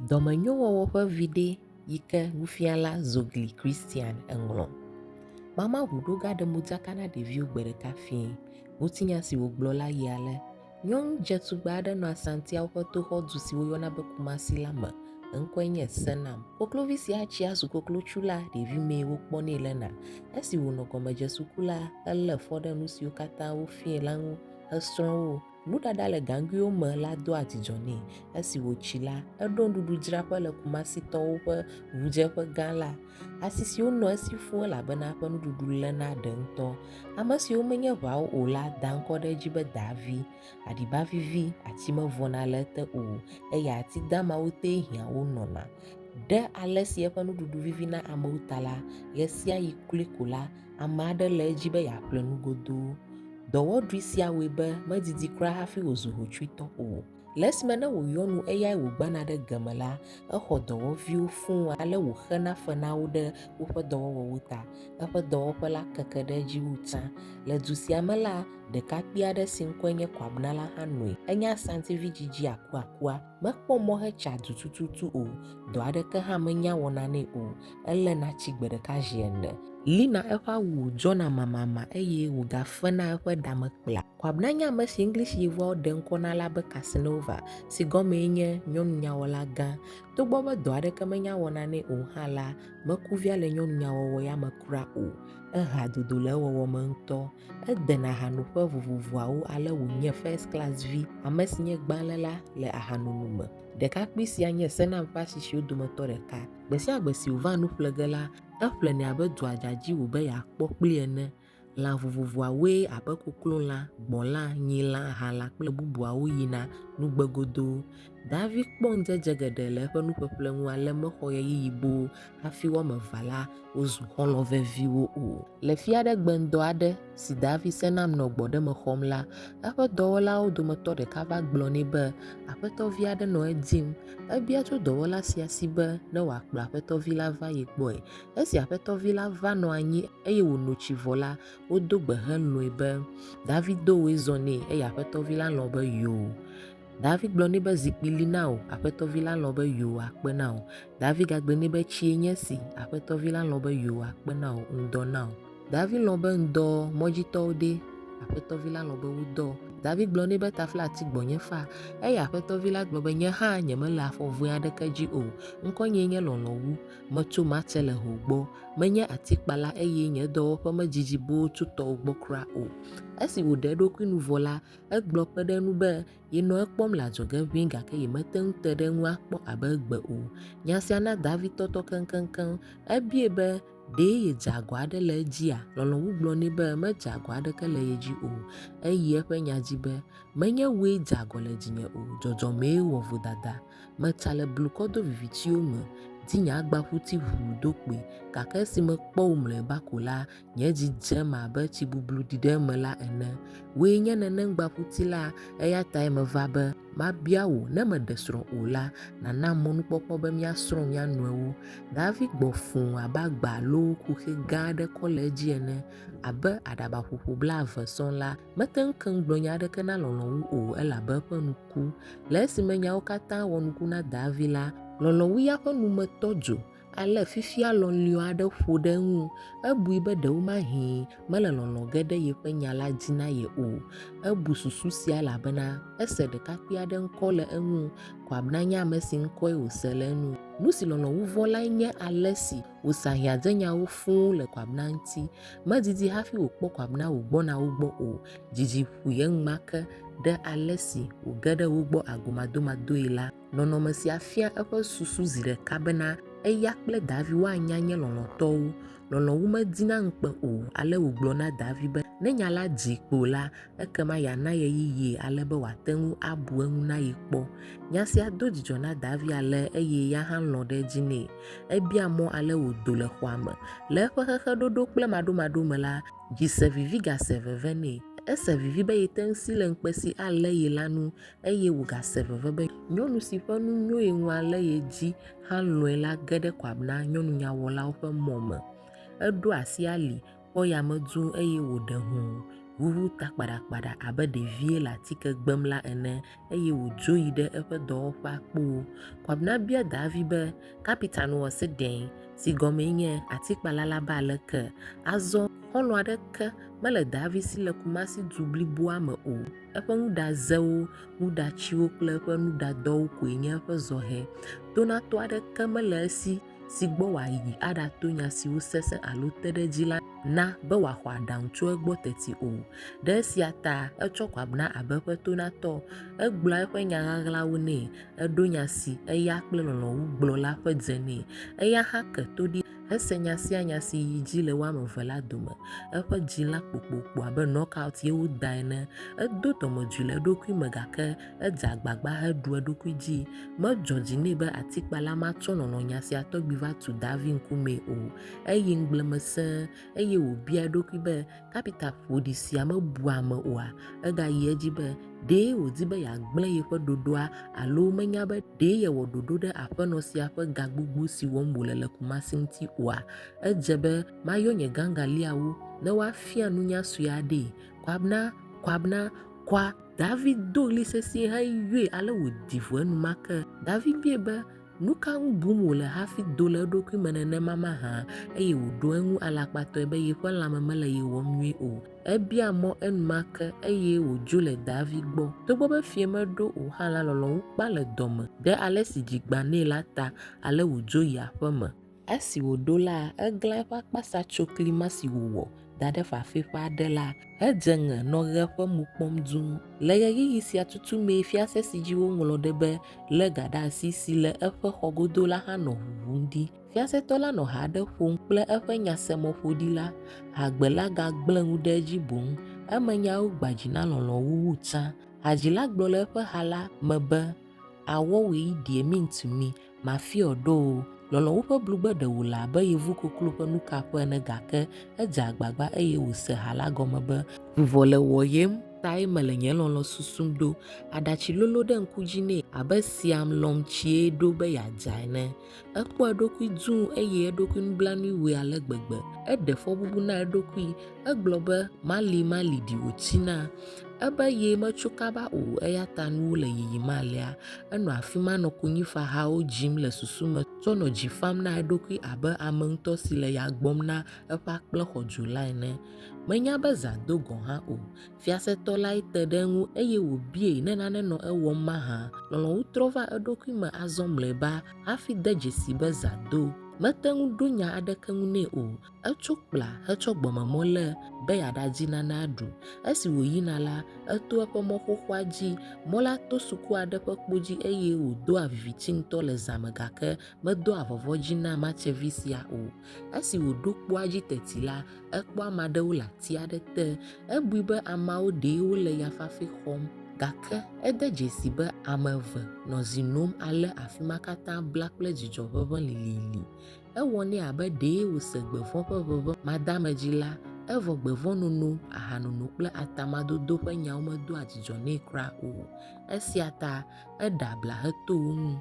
Dɔmenyowɔwɔ ƒe viɖe yi ke nufiala Zogli Christian ŋlɔ. Mama ʋuɖo gaɖe modzaka na ɖeviwo gbe ɖeka fiẽ. Ŋutinya si wògblɔ la yi ale, Nyɔnu dzetugbe aɖe nɔ Asantiawo ƒe toxɔdu si woyɔna be Kumasi la me. Eŋkɔe nye Senam. Koklovi sia tsia zu koklotsu la ɖevimee wokpɔnɛ lena. Esi wònɔ gɔmedzesuku la, elé fɔ ɖe nu siwo katã wofiae la ŋu hesrɔ̃ wo. Nuɖaɖa le gaŋguiwo me la doa dzidzɔ nɛ. Esi wòtsi la, eɖo nuɖuɖudzraƒe le Kumasitɔwo ƒe ŋudzeƒe gã la. Asi siwo nɔ esi fũ elabena eƒe nuɖuɖu lé na ɖe ŋutɔ. Ame siwo menye ʋawo o la da ŋkɔ ɖe edzi be Daavi. Aɖiba vivi ati mevɔna le ete o, eye ati damawo tee hiã wo nɔna. Ɖe ale si eƒe nuɖuɖu vivi na amewo ta la, ɣesiaɣi kloe ko la, Ame aɖe le edzi be yeaƒle nu godoo. Dɔwɔɖui sia wɔe be medidi kura hafi wòzu hotsuitɔ o. Le esime ne wòyɔ nu eyae wògbana ɖe ge me la, exɔ dɔwɔviwo fũu ale wòxena fe na wo ɖe woƒe dɔwɔwɔwo ta. Eƒe dɔwɔƒe la keke ɖe edzi wu tsã. Le du sia me la, ɖekakpui aɖe si ŋkɔe nye Kwabena la hã nɔe. Enye Asantivi dzidzi akuakua. Mekpɔ mɔ hetsa du tututu o. Dɔ aɖeke hã menya wɔna nɛ o. eléna tsi gbe ɖeka zi ene. Lina eƒe awu dzɔna mamama eye wògafena eƒe ɖa me kpla. Kwabena nye ame si English yevuawo ɖe ŋkɔ na la be Casanova, si gɔmee nye Nyɔnunyawɔla Gã. Togbɔ be dɔ aɖeke menya wɔna nɛ o hã la, meku via le nyɔnunyawɔwɔ ya me kura o. Ehea dodo le ewɔwɔ me ŋutɔ. Edena hanoƒe vovovoawo ale wònye first class vi, ame si nye gbãléla le ahanono me. Ɖekakpui sia nye Senam ƒe asi siwo dometɔ ɖeka. Gbe sia gbe si wòvaa nu ƒle ge la, eƒlenɛ abe dua dzadzi wòbe yeakpɔ kpli ene. Lã vovovoawoe abe koklolã, gbɔ̃lã, nyilã, ahalã kple bubuawo yina nugbe godoo. Davi kpɔ ŋudzedze geɖe le eƒe nuƒeƒle ŋu ale mexɔ ɣeyiɣi boo hafi wo ame evea la wozu xɔlɔ̃ veviwo o. Le fia ɖe gbeŋdɔ aɖe, si daa vi se nam nɔ gbɔɖeme xɔm la, eƒe dɔwɔlawo dometɔ ɖeka va gblɔ nɛ be aƒetɔ vi aɖe nɔ edim. Ebia tso dɔwɔla sia si be ne wòakplɔ aƒetɔ vi la va ye gbɔe. Esi aƒetɔ vi la va nɔ anyi eye wòno tsi vɔ la, wodo gbe helɔ̃e be, David do wòe zɔ nɛ eye aƒetɔ vi la lɔ̃ be yoo. David gblɔ nɛ be, Zikpui li na wò. Aƒetɔ vi la lɔ̃ be yoo akpe na wò. David gagblɔ nɛ be, Tsie nye esi. Aƒetɔ vi la lɔ̃ be yoo akpe na wò. Ŋdɔ na wò. Davi lɔ̃ be ŋdɔ mɔdzitɔwo ɖe, Aƒetɔ vi la lɔ̃ be wodɔ. Davi gblɔ nɛ be tafla ati gbɔnye fa, eye Aƒetɔ vi la gblɔ be nye hã nyemele afɔ vɔ̃e aɖeke dzi o. Ŋkɔnyee nye lɔlɔ̃ wu. Metso Marteleho gbɔ. Menye atikpala eye nye dɔwɔƒe medidi boo tso tɔwò gbɔ kura o. Esi wòɖe eɖokui nu vɔ la, egblɔ kpe ɖe eŋu be yenɔ ekpɔm le adzɔge ʋĩi gake yemete ŋu te ɖe eŋu akpɔ abe egbe o. Nya sia na Davi tɔtɔ keŋkeŋkeŋ. Ebiae be, Ɖe yedze agɔ aɖe le edzia? Lɔlɔ̃ŋu gblɔ nɛ be medze agɔ aɖeke le ye dzi o. Eyi eƒe nya dzi be, Menye wòe dze agɔ le dzinye o, dzɔdzɔmee wɔ vodada. Metsa le blukɔ do vivitiwo me, di nye agbaƒuti ʋuu do kpoe, gake esi mekpɔ wò mlɔeba ko la, nye dzi dze eme abe tsi bublu ɖi ɖe eme la ene. Wòe nye neneŋgbaƒuti la, eya tae meva be mabia wò ne meɖe srɔ̃ o la, nànam mɔnukpɔkpɔ be míasrɔ̃ mía nɔewo. Davi gbɔ fũ abe agba alo xuxɛ gã aɖe kɔ le edzi ene, abe aɖaba ƒoƒo blaeve sɔŋ la, mete ŋu keŋ gblɔ nya aɖeke na lɔlɔ̃ wu o, elabe eƒe nu ku. Le esime nyawo katã wɔ nuku na Davi la, lɔlɔ̃wuya ƒe nu me tɔ dzo, ale fifia lɔliɔ̃ aɖe ƒo ɖe eŋu, ebui be ɖewomahi mele lɔlɔ̃ ge ɖe yeƒe nya la dzi na ye o. Ebu susu sia elabena ese ɖekakpui aɖe ŋkɔ le eŋu ko abe nanye ame si ŋkɔe wòse le enu. Nu si lɔlɔ̃ wu vɔ lae nye ale si wòsea hiãdzenyawo fũu le ko abe na ŋuti. Medidi hafi wòkpɔ ko abe na wògbɔna wo gbɔ o. Dzidzi ƒoe enumake ɖe ale si wòge ɖe wo gbɔ agomadomadoe la. Nɔnɔme sia fia eƒe susu zi ɖeka bena eya kple Davi woanya nye lɔlɔ̃tɔwo. Lɔlɔ̃ wu medina ŋukpe o, ale wògblɔ na Davi be ne nya la dzii kpo la, ekema yeana ɣeyiɣie ale be wòate ŋu abu eŋu na ye kpɔ. Nya sia do dzidzɔ na Davi ale eye ya hã lɔ̃ ɖe edzi nɛ. Ebia mɔ ale wòdo le xɔa me. Le eƒe xexeɖoɖo kple maɖomaɖo me la, dzi se vivi gase veve nɛ. Ese vivi be yete ŋu si le ŋukpe si alé ye la nu eye wògase veve be nyɔnu si ƒe nu nyo ye ŋu ale ye dzi hã lɔ̃e la ge ɖe Koab na nyɔnunyawɔlawo ƒe mɔ me. Eɖo asi ali, kpɔ yame dzuu eye wòɖe ho, ʋuʋu ta kpaɖakpaɖa abe ɖevie le atike gbem la ene eye wòdzo yi ɖe eƒe dɔwɔƒea kpoo. Koab na bia Daavi be, Kapitan wɔ se ɖe? si gɔmee nye Atikpala la be aleke? Azɔ, xɔlɔ̃ aɖeke mele Daavi si le Kumasi du bliboa me o. Eƒe nuɖazewo, nuɖatsiwo kple eƒe nuɖadɔwo koe nye eƒe zɔhɛ. Tonatɔ aɖeke mele esi si gbɔ wòayi aɖato nya siwo sesẽ alo te ɖe edzi la na be wòaxɔ aɖaŋu tso egbɔ teti o. Ɖe esia ta etsɔ kɔ abna abe eƒe tonatɔ. Egblɔa eƒe nya ɣaɣlawo nɛ, eɖo nya si eya kple lɔlɔ̃ wu gblɔ la ƒe dze nɛ. Eya hã ke to ɖi. Ese nya sia nya si yi dzi le wo ame eve la dome. Eƒe dzi la kpokpokpo abe knockout ye woda ene. Edo dɔmedzoe le eɖokui me gake edze agbagba heɖu eɖokui dzi. Medzɔ dzi nɛ be atikpala ma tsɔ lɔlɔ̃nya sia tɔgbi va tu Davi ŋkumee o. Eyi ŋugble me sẽe eye wòbia eɖokui be, Kapita ƒoɖi sia mebua ame oa? Egayi edzi be, Ɖe wòdi be yeagblẽ yeƒe ɖoɖoa alo menya be ɖe yewɔ ɖoɖo ɖe aƒenɔ sia ƒe ga gbogbo si wɔm wòle le Kumasi ŋuti oa? Edze be mayɔ nye gangaliawo ne woafia nunya sue aɖee. Kwabena! Kwabena! Kwa! David do ɣli sesĩe heyɔe ale wòdi vo enumake. David biae be, Nu ka ŋu bum wòle hafi do le eɖokui me nenema mahã? Eye wòɖo eŋu alakpatɔe be yeƒe lãme mele ye wɔm nyuie o. Ebia mɔ enumake, eye wòdzo le Davi gbɔ. Togbɔ be fiẽ meɖo o hã la, lɔlɔ̃ ŋu kpa le dɔme ɖe ale si dzi gbã nɛ la ta, ale wòdzo yi aƒeme. Esi wòɖo la, eglã eƒe akpasa tso kli ma si wòwɔ da ɖe fafɛ ƒe aɖe la hedze ŋe nɔ ɣe ƒe mo kpɔm duu. Le ɣeyiɣi sia tutu mee fiase si dzi woŋlɔ ɖe be Lé Ga Ɖe Asi si le eƒe xɔ godo la hã nɔ ʋuʋum ɖi. Fiasetɔ la nɔ ha aɖe ƒom kple eƒe nyasemɔƒoɖila. Hagbe la gagblẽ ŋu ɖe edzi boŋ. Emenyawo gbã dzi na lɔlɔ̃ wu wu tsã. Hadzila gblɔ le eƒe ha la me be, Awɔ we, dear mean to me. Mafiɔ ɖo o. Lɔlɔ̃wu ƒe blugbe ɖe wòle abe yevu koklo ƒe nukaƒe ene gake edze agbagba eye wòse ha la gɔme be, Vuvɔ le wɔyem tae mele nye lɔlɔ̃ susum ɖo. Aɖatsi lolo ɖe ŋku dzi nɛ abe siam lɔ̃m tsie ɖo be yeadza ene. Ekpɔ eɖokui dũu eye eɖokui nublanuiwɔe ale gbegbe. Eɖe fɔbubu na eɖokui Egblɔ be, Mali, mali ɖi wòtsi na. Ebe ye metso kaba o, eya ta nuwo le yiyim alea. Enɔ afi ma nɔ konyifahawo dzim le susu me tsɔ nɔ dzi fam na eɖokui abe ame ŋutɔ si le ya gbɔm na eƒe akplexɔdzula ene. Menya be zã do gɔ̃ hã o. Fiasetɔ lae te ɖe eŋu eye wòbiee ne nane nɔ ewɔm mahã. Lɔlɔ̃nu trɔ va eɖokui me azɔ mlɔeba hafi de dzesii be zã do. Mete ŋu ɖo nya aɖeke ŋu nɛ o. Etso kpla hetsɔ gbɔmemɔ lé be yeaɖadi nane aɖu. Esi wòyina la, eto eƒe mɔ xoxoa dzi. Mɔ la to suku aɖe ƒe kpo dzi eye wòdoa viviti ŋutɔ le zã me gake medoa vɔvɔ̃ dzi na matsevi sia o. Esi wòɖo kpoa dzi teti la, ekpɔ ame aɖewo le ati aɖe te. Ebui be ameawo ɖee wole ya fafɛ xɔm, gake ede dzesii be ame eve nɔ zi nom ale afi ma katã bla kple dzidzɔ ʋeʋẽ lilili. Ewɔ nɛ abe ɖee wòse gbevɔ̃ ƒe ʋeʋẽ madeamedzi la, evɔ gbevɔ̃nono, ahanono kple atamadodo ƒe nyawo medoa dzidzɔ nɛ kura o. Esia ta eɖe abla heto wo ŋu.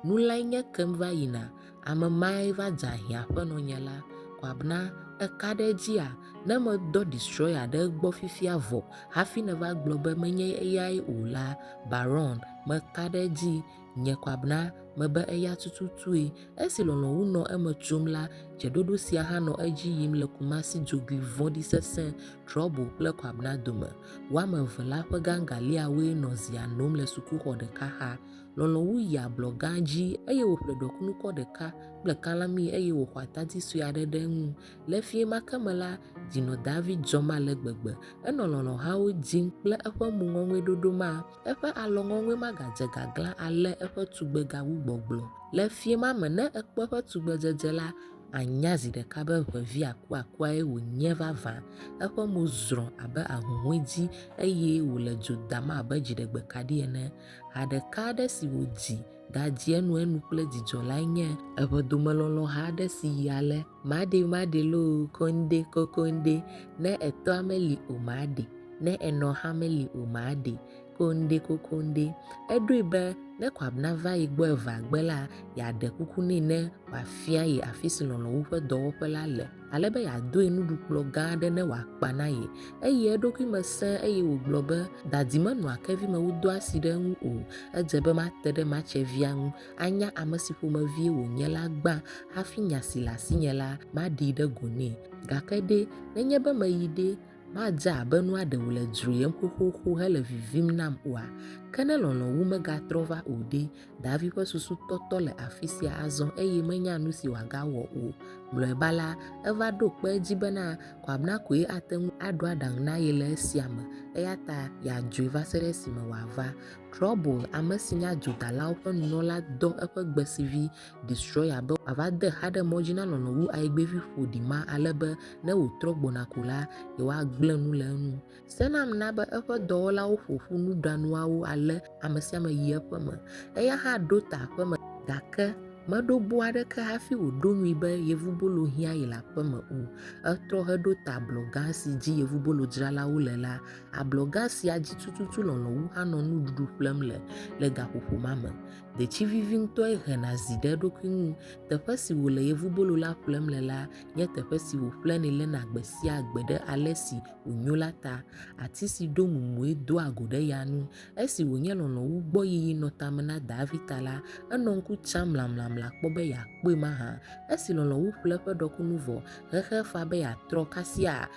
Nu lae nye kem va yina, ame mae va dzea hiã aƒenɔ nye la. Kwabena, èka ɖe edzia? Ne medɔ Destroyer ɖe egbɔ fifia vɔ hafi nèva gblɔ be menye eyae o la, Baron, meka ɖe edzi. Nye kwabna mebe eya tututue. Esi lɔlɔ̃wu nɔ eme tsom la, dzeɖoɖo sia hã nɔ edzi yim le Kumasi dzogoe vɔ̃ɖi sesẽ, trouble, kple kwabna dome. Woame eve la ƒe gangaliawoe nɔ zia nom le sukuxɔ ɖeka xa. Lɔlɔ̃wu yi ablɔ gã dzi eye wòƒle ɖɔkunukɔ ɖeka kple kalami eye wòxɔ atadi sue aɖe ɖe eŋu. Le fiẽ ma ke me la, dzi nɔ David dzɔm ale gbegbe. Enɔ lɔlɔ̃hawo dim kple eƒe mo ŋɔŋɔeɖoɖo ma. Eƒe alɔŋɔŋɔe magadze gaglã ale eƒe tugbega wu gbɔgblɔ. Le fiẽ ma me, ne èkpɔ eƒe tugbedzedze la, ànya zi ɖeka be ʋevi akuakuae wònye vavã. Eƒe mo zrɔ̃ abe ahuhɔ̃e dzi, eye wòle dzo dam abe dziɖegbekaɖi ene. Ha ɖeka aɖe si wòdzi gadzi enuenu kple dzidzɔ lae nye eƒe domelɔlɔ̃ha aɖe si yi ale. Maɖi maɖi loo koŋde kokoŋde, ne etɔa meli o maɖi, ne enɔ hã meli o maɖi koŋde kokoŋde. Eɖoe be ne Koab nava ye gbɔ eveagbe la, yeaɖe kuku nɛ ne wòafia ye afi si lɔlɔ̃wu ƒe dɔwɔƒe la le, ale be yeadoe nuɖukplɔ̃ gã aɖe ne wòakpa na ye. Eyi eɖokui me sẽ eye wògblɔ be, Dadi menɔa kevi me wodɔa asi ɖe eŋu o. Edze be mate ɖe matsevia ŋu anya ame si ƒomevie wònye la gbã hafi nya si le asinye la maɖee ɖe go nɛ. Gake ɖe, nenye be meyi ɖe, madze abe nua ɖe wòle dzroyem xoxoxo hele vivim nam oa? Ke ne lɔlɔ̃ wu megatrɔ va o ɖe? Davi ƒe susu tɔtɔ le afi sia azɔ eye menya nu si wòagawɔ o. Mlɔeba la, eva ɖo kpe edzi bena Kwabena koe ate ŋu aɖo aɖaŋu na ye le esia me, eya ta yeadzɔe va se ɖe esime wòava. Trouble, ame si nye adzodalawo ƒe nunɔla dɔ eƒe gbesivi Destroyer be wòava de xa ɖe mɔ dzi na lɔlɔ̃ wu ayigbevi ƒoɖi ma ale be ne wòtrɔ gbɔna ko la, yewoagblẽ nu le eŋu. Senam na be eƒe dɔwɔlawo ƒo ƒu nuɖanuawo ale ame sia ame yi eƒe me. Eya hã ɖo ta aƒeme. Gake meɖo bo aɖeke hafi wòɖo ŋui be yevubolo hiã ye le aƒeme o. Etrɔ heɖo ta ablɔ gã si dzi yevubolodzralawo le la Ablɔga sia dzi tututu lɔlɔ̃ wu anɔ nuɖuɖu ƒlem le le gaƒoƒo ma me. Detsi vivi ŋutɔe hena zi ɖe eɖokui ŋu. Teƒe si wòle yevubolo la ƒlem le la nye teƒe si wòƒlenɛ lena gbe sia gbe ɖe ale si wònyo la ta. Ati si ɖo mumue doa go ɖe ya nu. Esi wònye lɔlɔ̃ wu gbɔ yiyi nɔ tame na Davi ta la, enɔ ŋku tsam mlamlamla kpɔ be yeakpɔe mahã. Esi lɔlɔ̃ wu ƒle eƒe ɖɔkunu vɔ, xexea fa be yeatrɔ kasia